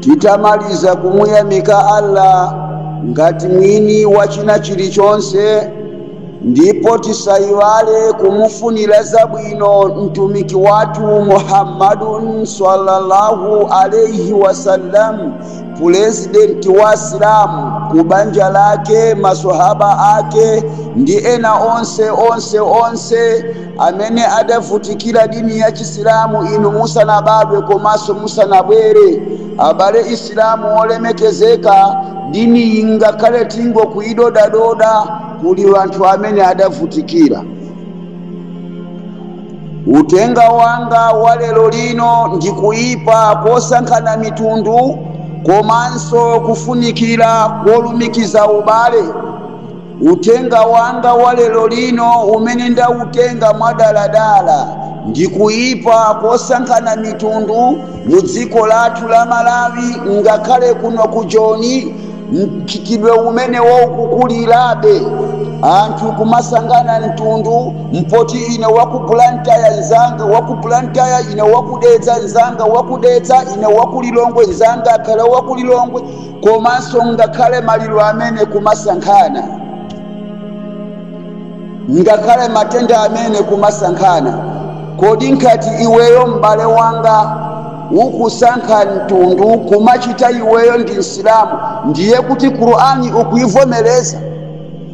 titamaliza kumuyamika allah ngati mwini wa china chilichonse ndipo tisayiwale kumufunira zabwino mtumiki wathu muhammadun sallallahu alaihi wasallam pulezidenti wa asilamu ku banja lake masohaba ake ndi ena onse onse onse amene adavutikira dini ya chisilamu inu musanabadwe komanso musanabwere abale asilamu wolemekezeka diniyi ngakhale tingoyidodadoda kuli wanthu amene adavutikira utenga wanga wa lero lino ndi kuyipa kosankhana mitundu komanso kufunikira kolumikiza ubale Uthenga wanga wa lero lino umene ndautenga mwadaladala ndi kuipa kosankhana mitundu mu dziko lathu la Malawi ngakhale kuno ku Joni mchitidwe umenewo ukukulirabe anthu kumasankhana mtundu mpoti ine wa ku Blantyre nzanga wa ku Blantyre ine wa ku Dedza nzanga wa ku Dedza ine wa ku Lilongwe nzanga akhale wa ku Lilongwe Komanso ngakhale maliro amene kumasankhana, ngakhale matenda amene kumasankhana, kodi ngati iweyo m'bale wanga ukusankha mtundu kumachita iweyo ndi Msilamu, ndiye kuti Qur'an ukuivomereza?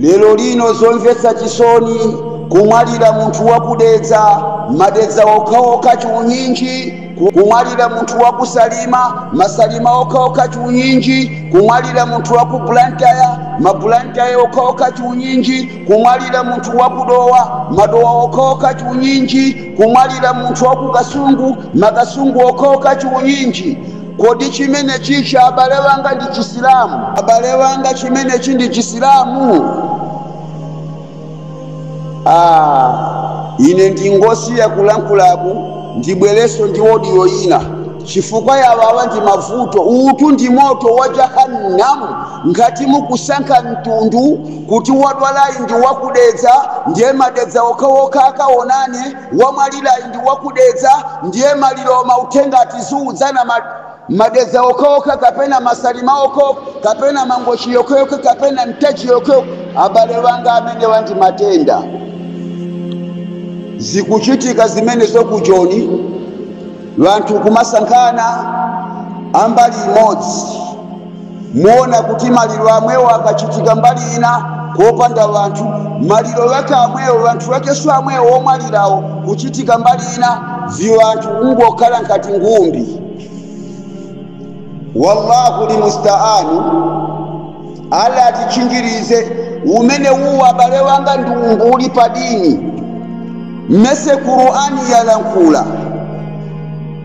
Lerolino zomvetsa chisoni kumwalira munthu wa ku Dedza, madedza okhaokha chiunyinji, kumwalira munthu wa ku Salima, masalima okhaokha chiunyinji, kumwalira munthu wa ku Blantyre, ma Blantyre okhaokha chiunyinji, kumwalira munthu wa ku Dowa, madowa okhaokha chiunyinji, kumwalira munthu wa ku Kasungu, makasungu okhaokha chiunyinji. Kodi chimenechichi abale wanga ndi chisilamu? Abale wanga chimenechi ndi chisilamu? Aaa ine ndingosiya kulankhulaku ndibwerenso ndi audio ina chifukwa yawawa ndi mavuto. Uwutu ndi moto wa jahannam ngati mukusankha mtundu kuti wadwalayi ndi wa ku Dedza ndiye madedza okhaokha akaonane. wamwalilayi ndi wakudedza ndiye maliro mauthenga tiziudzana ma, madedza okhaokha kapena masalima okhaokha kapena mangochi yokheyokhe kapena mtaji yokheyokhe abale wanga amenewa ndi matenda zikuchitika zimenezo ku joni wanthu kumasankhana ambali imodzi Muona kuti maliro amwewo akachitika mbali ina kopanda wanthu, maliro wake amwewo, wanthu wakeso amwewo womwalirawo kuchitika mbali ina, viwanthu kungokhala nkati ngumbi. Wallahu limustaanu, Allah atitchinjirize. Umenewu abale wanga ndi umbuli pa dini, mmese Qur'ani yalankhula.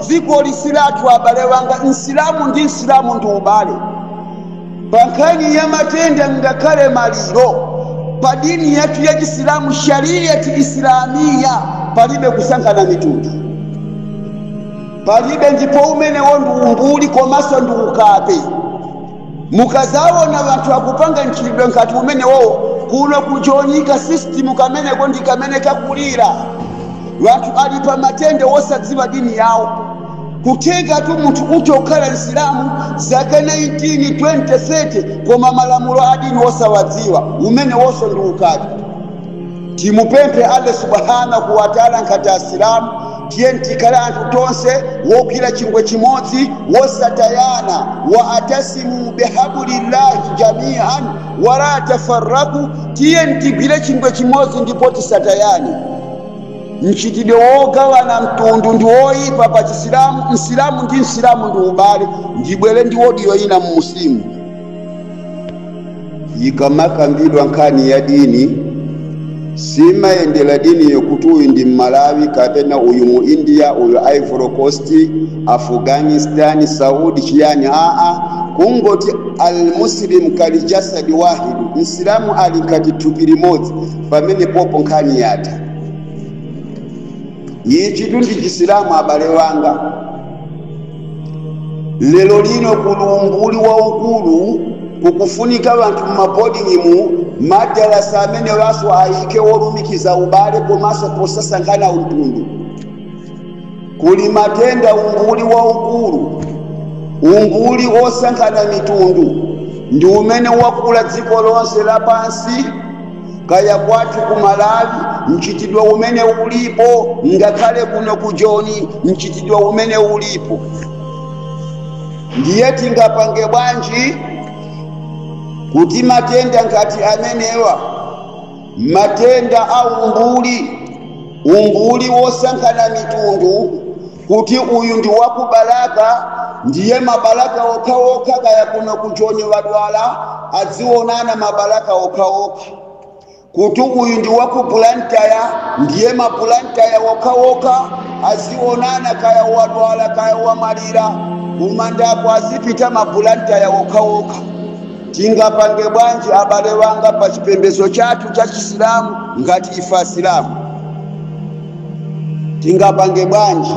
Dzikoli si lathu abale wanga, Msilamu ndi Msilamu ndi ubale. Pa nkhani ya matenda ngakhale maliro, pa dini yathu ya Chisilamu, Shariat-i-Islamiyya, palibe kusankhana mitundu. Palibe ndipo umenewo ndi umbuli komanso ndi ukape. Mukazawona wanthu akupanga mchitidwe nkati umenewowo kuno ku joni ka system kameneko ndikamene kakulira. Wanthu ali pa matenda wosadziwa dini yawo. Kuthekatu munthu utha kukhala msilamu zaka 19, 20, 30 koma malamulo a dini wosawadziwa. Umenewoso ndi ukape. Timupemphe Allah Subhaanahu Wataalaa nkati Asilamu tiyeni tikhale anthu tonse wogwira chingwe chimodzi wosatayana, Wa'atasimuu bihabulillahi jamii'an walaa tafarraqu, tiyeni tigwire chingwe chimodzi ndipo tisatayane. Mchitidwe wogawana mtundu ndi woipa pa Chisilamu, Msilamu ndi Msilamu ndi ubale, ndibwere ndi audio ina mu Muslimu. ikamakambidwa nkhani ya dini simayendera dini yokuti uyu ndi mmalawi kapena uyu mu india uyu ivory coast afghanistan saudi chiyani aa kungoti almuslim kali jasadi wahidu msilamu ali ngati thupi limodzi pamenepopo nkhani yatha Ichitu ndi Chisilamu abale wanga. Lero lino kuli umbuli waukulu, kukufunika wanthu mmaboding'imu, madarasa amenewanso ayike wolumikiza ubale komanso posasankhana mtundu. Kuli matenda umbuli waukulu, umbuli wosankhana mitundu ndi umene wakula dziko lonse lapansi. kaya kwathu ku malawi mchitidwe umenewu ulipo ngakhale kuno ku joni mchitidwe umenewu ulipo ndiye tingapange bwanji kuti matenda ngati amenewa matenda a umbuli umbuli wosankhana mitundu kuti uyu ndi wakubalaka ndiye mabalaka okhaokha kaya kuno ku joni wadwala adzionana mabalaka okhaokha kuti uyu ndi wakubulantaya ndiye mabulantaya okhaokha azionana kaya wadwala kaya wamwalira kumandako azipita mabulantaya okhaokha tingapange bwanji abale wanga pa chipembedzo chathu cha chisilamu ngati ife asilamu tingapange bwanji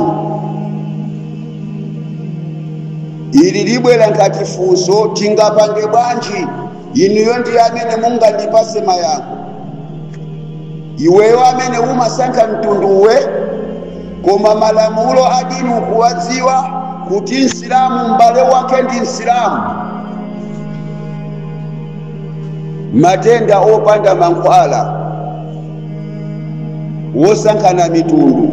ili libwera ngati funso tingapange bwanji inuyo ndi amene mungandipase mayankho iweyo amene umasankha mtunduwe koma malamulo adini ukuwadziwa kuti msilamu m'bale wake ndi msilamu matenda opanda mankhwala wosankhana mitundu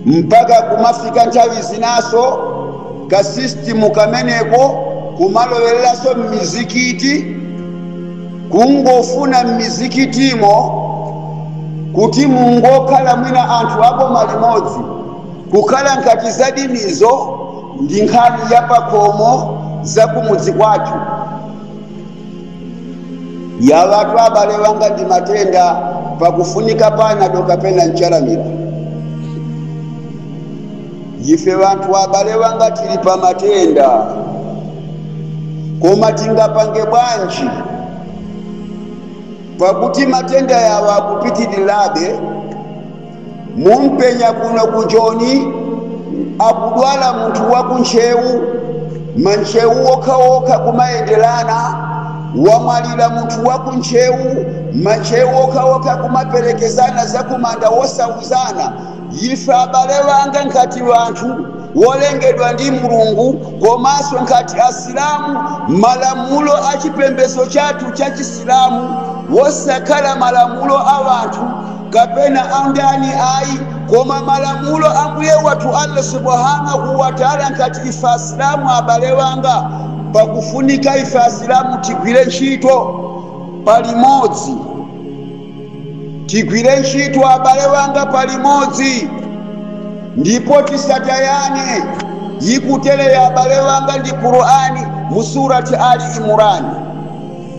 mpaka kumafika nthawi zinaso kasistimu kameneko kumalowereranso m'mizikiti kungofuna m'mizikitimo kuti mungokhala mwina anthu aboma limodzi kukhala ngati za dinizo ndi nkhani ya pakhomo za kumudzi kwathu yawatu abale wanga ndi matenda pakufunika panado kapena nchalamira ife wanthu abale wanga tili pa matenda koma tingapange bwanji pakuti matenda yawa akupitirirabe mumpenya kuno ku joni akudwala munthu wa ku ntcheu mantcheu okhaokha kumayenderana wamwalira munthu wa ku ntcheu mantcheu okhaokha kumaperekezana zakumanda wosauzana ife abale wanga ngati wanthu wolengedwa ndi mulungu komanso ngati asilamu malamulo a chipembedzo chathu cha chisilamu wosakhala malamulo a wanthu kapena a ndani ayi koma malamulo a Mbuye wathu Allah Subhaanahu Wata'ala ngati ife Asilamu abale wanga pakufunika ife Asilamu tigwire ntchito palimodzi tigwire ntchito abale wanga palimodzi ndipo tisatayane ikutere ya abale wanga ndi Qur'ani mu surati Ali Imurani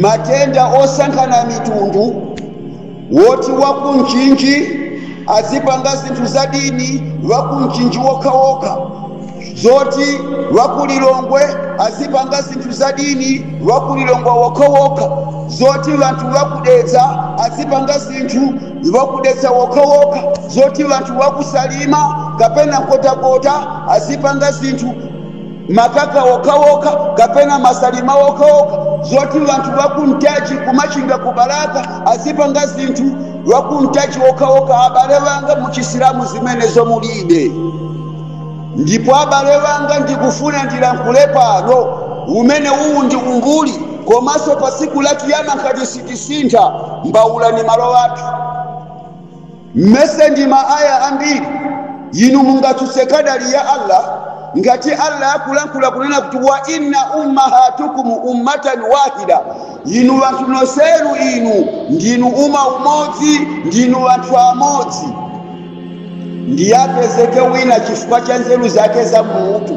matenda osankhana mitundu woti wakumchinji azipanga zinthu za dini wakumchinji wokhawokha zoti wakulilongwe azipanga zinthu za dini wakulilongwe wokhawokha zoti wanthu wakudedza azipanga zinthu wakudedza wokhawokha zoti wanthu wakusalima kapena nkhotakota azipanga zinthu makaka okhaokha kapena masalima okhaokha zoti wanthu wakuntaja kumachinga kubalaka azipanga zinthu wakuntaja okhaokha abale wanga muchisilamu zimenezo mulibe ndipo abale wanga ndikufuna ndilankhule pano umene uwu ndi umbuli komanso pa tsiku la kiyama ngati sitisintha mbawula ni malo athu mmene ndi ma aya ambiri inu mungatsutse kadali ya allah ngati allah akulankhula kunena kuti wa inna ummahatukum ummatan wahida inu wanthu nonsenu inu ndinu uma umodzi ndinu wanthu amodzi ndiye apezeke wina chifukwa cha nzeru zake za mutu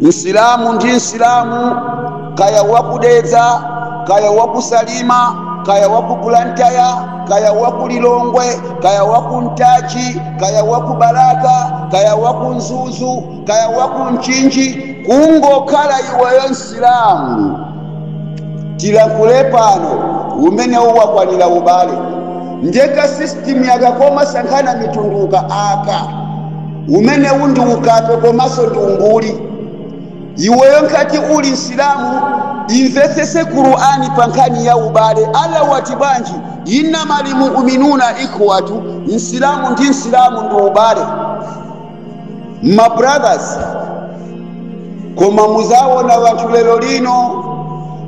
msilamu ndi msilamu kaya wakudedza kaya wakusalima kaya wakubulantaya kaya wakulilongwe kaya wakuntachi kaya wakubalaka kaya wakunzuzu kaya wakunchinji kungokhala iweyo msilamu tilankhule pano umenewo wakwanira ubale ndiye ka system yake komasankhana mitunduka aka umenewu ndi ukape komanso ndi umbuli iweyo ngati uli msilamu imvetsese qur'ani pa nkhani ya ubale allah wati bwanji innamal muuminuna ikhwatu msilamu ndi msilamu ndi ubale my brothers koma muzaona vanthu lero lino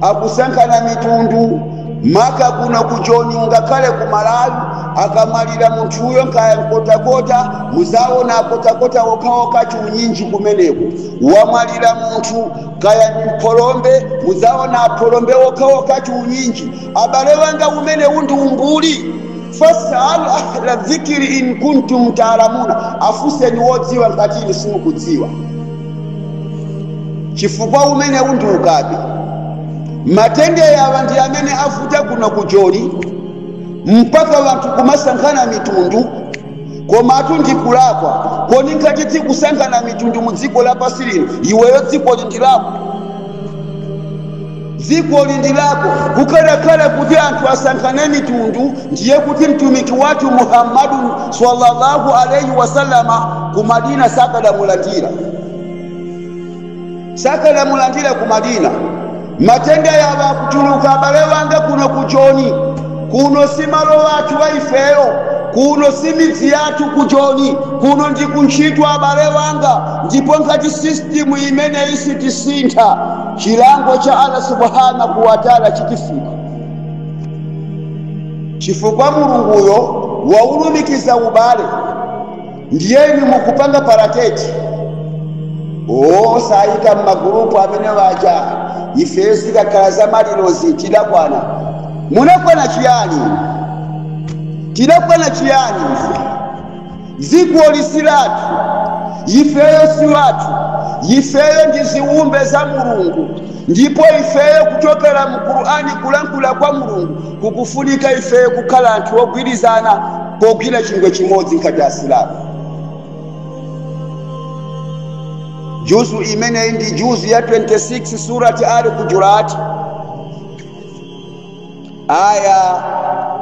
akusankhana mitundu maka kuno ku joni ngakhale ku malawi akamwalira munthuyo nkaya mnkhotakota muzaona ankhotakota okhaokha chiunyinji kumeneko wamwalira munthu kaya ndi mphalombe muzaona aphalombe okhaokha chiunyinji abale wanga umenewu ndi umbuli Fasalu ahla dhikri in kuntum taalamuna, afunseni wodziwa ngati inu simukudziwa. Chifukwa umenewu ndi ukape. Matenda awa ndi amene avuta kuno ku Joni mpaka wanthu kumasankhana mitundu, komatu ndi kulakwa koni ngati tikusankhana mitundu mu dziko lapansi lino, iweyo dzikoli ndi lako. dzikoli ndi lako kukadakhala kuti anthu asankhane mitundu ndiye kuti mtumiki wathu muhammadu sallallahu alaihi wasallama ku madina sakadamulandira sakadamulandira ku madina matenda yawa akutuluka abale wanga kuno ku joni Kuno si malo athu a ifeyo. Kuno si midzi yathu ku Joni. Kuno ndi ku ntchito, abale anga, ndipo ngati system imeneyi sitiisintha, chilango cha Allah Subhaanahu Watala chitifika. Chifukwa Mulunguyo waulumikiza ubale. ndiye inu mukupanga parateti osayika m'magulupu amenewaja ifeyo zikakhala za malirozi tidakwana munakwana chiyani tidakwana chiyani ife dziko ili si lathu ifeyo si wathu ifeyo ndi ziwumbe za mulungu Ndipo ifeyo kuchokera mu Qur'an kulankhula kwa Mulungu kukufunika ifeyo kukhala anthu ogwirizana pogwira chingwe chimodzi ngati Asilamu. Juzu imeneyi ndi juzu ya 26 surati Al Hujurat aya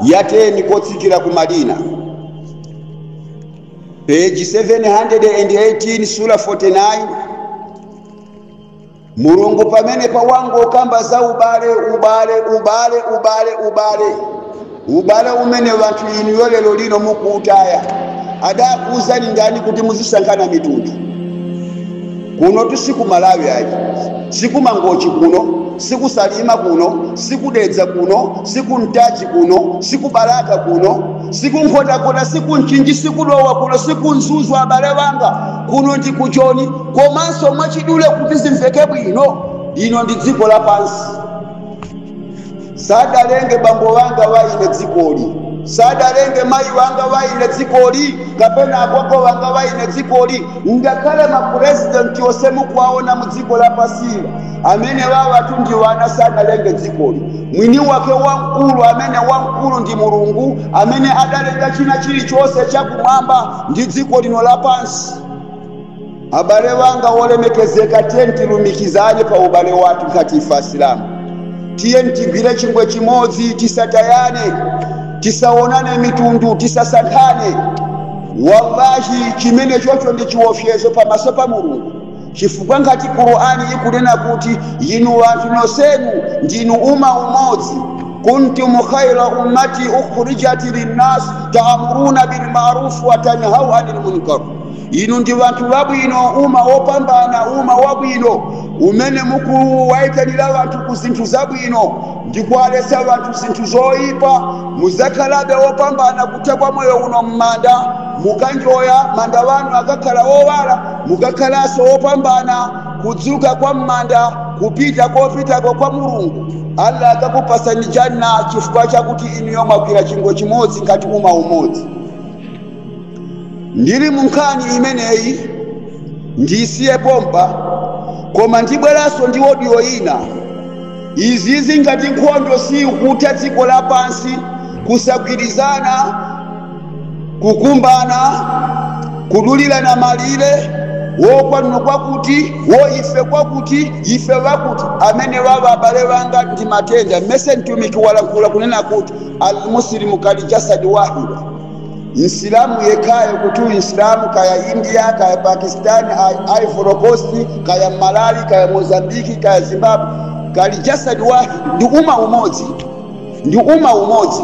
ya 10 kotsikira ku Madina. Page 718 sura 49 mulungu pamenepa wangokamba za ubale ubale ubale ubale ubale ubale umene wanthu inuyo lero lino mukuutaya adakuuzani ndani kuti muzisankhana mitundu kuno tu si ku Malawi ayi si ku Mangochi kuno si ku Salima kuno si ku Dedza kuno si ku Ntaja kuno si ku Balaka kuno si ku Nkhotakota si ku Mchinji si ku Dowa kuno si ku Mzuzu abale wanga kuno ndi ku Joni komanso mwachidule kuti zimveke bwino lino ndi dziko lapansi sadalenge bambo wanga wa ine dzikoli sadalenge mayi wanga wa ine dzikoli kapena agogo wanga wa ine dzikoli ngakhale mapurezidenti onse mukuwaona mu dziko lapansila amenewawatu ndi wana sadalenge dzikoli mwini wake wamkulu amene wa nkuti ndi mulungu amene adalenga china chilichonse chakumwamba ndi dziko lino lapansi Abale wanga wolemekezeka, tiyeni tilumikizane pa ubale wathu ngati ife Asilamu. Tiyeni tigwire chingwe chimodzi, tisatayane, tisaonane mitundu, tisasankhane. Wallahi, chimenechocho ndi chiwofyezo pamaso pa Mulungu, chifukwa ngati Qur'ani ikunena kuti inu anthu nonsenu ndinu uma umodzi kuntum khaira ummati ukhrijat linnas taamuruna bilmarufu wa tanhauna anil munkar inu ndi vanthu vabwino uma wopambana uma wabwino umene mukuwayitanira vanthu ku zinthu zabwino ndi kuwaletsa vanthu zinthu zoyipa mudzakhalabe wopambana kutha kwa moyo uno m'manda mukanjoya manda vanu akakhala owala mukakhalanso wopambana kudzuka kwa m'manda kupita kopitako kwa mulungu allah akakupasani janna chifukwa chakuti inuyo mwagwira chingwe chimodzi ngati uma umodzi ndili mu nkhani imeneyi ndisiye pompa koma ndibweranso ndi odiyo ina izizi ngati nkhondo siikutha dziko lapansi kusagwirizana kukumbana kudulirana malire wokwanira kwakuti woife kwakuti ife wakuti amene waba abale wanga ndi matenda mmese mtumiki walankhula kunena kuti almuslimu kali jasadi wahid msilamu yekhayo kuti uyu msilamu kaya india kaya pakistani I- ivory coast kaya malawi kaya mozambiki kaya zimbabwe kali jasadi wahid ndi uma umodzi ndi uma umodzi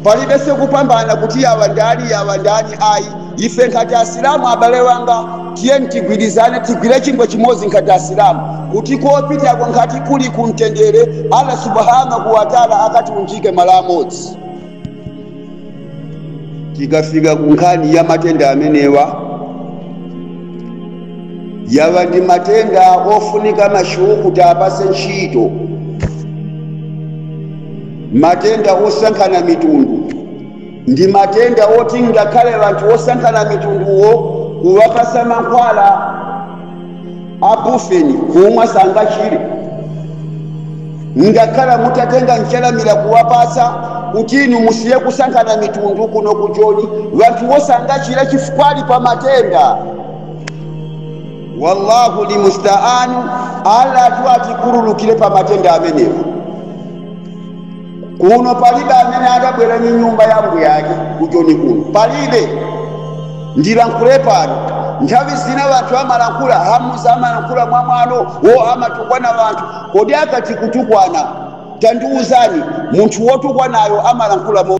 palibe sekupambana kuti yawa ndani yawa ndani ayi ife nkhati asilamu abale wanga tiyeni tigwirizane tigwire chingwe chimodzi nkhati asilamu kuti kopitako nkhati kuli kumtendere allah subhanahu wataala akatiunjike malo amodzi tikafika ku nkhani ya matenda amenewa yawa ndi matenda ofunika mashekhe kutiapase ntchito matenda osankhana mitundu ndi matenda oti ngakhale anthu osankhana mitunduwo kuwapasa mankhwala abufeni kumwa sangachire ngakhale mutatenga nchalamira kuwapatsa kuti inu musiye kusankhana mitundu kuno ku joni wanthuwo sangachire chifukwa ali pa matenda wallahu limustaanu allah atu atikhululukire pa matenda amenewa kuno palibe amene adabwera ndi nyumba ya mbuyake kujoni kuno palibe ndilankhule pano nthawi zina vanthu amalankhula hamuza amalankhula mwa mwano wo amatukwana vanthu kodi akati kutukwana tandiwuzani munthu wotukwanayo amalankhula mo